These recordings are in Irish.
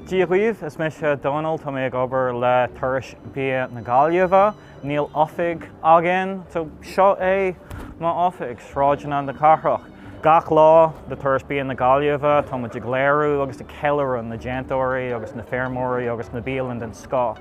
Dia dhaoibh, is mise Dónal, tá mé ag obair le Turais Bia na Gaillimhe. Níl oifig againn, so seo é m'oifig, Sráideanna na Cathrach. Gach lá le Turais Bia na Gaillimhe tá muid ag léiriú agus ag ceiliúradh na déantóirí agus na feirmeoirí agus na bialann den scoth.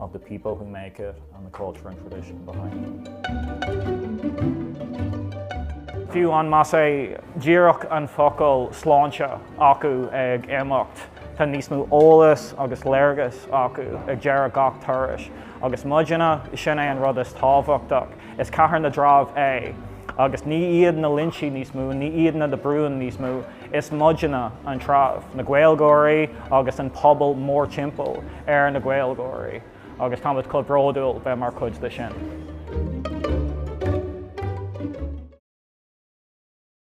of the people who make it and the culture and tradition behind it. Fiú an más é díreach an focal 'sláinte' acu ag imeacht, tá níos mó eolas agus léargas acu ag deireadh gach turais agus muidne, sin é an rud is tábhachtach, is cathair na dtreibh é agus ní iad na Loinsigh níos mó, ní iad na de Brún níos mó, Is muidne an treabh, na Gaeilgeoirí agus an pobal mórtimpeall ar na Gaeilgeoirí agus táimid chomh bródúil bheith mar chuid de sin.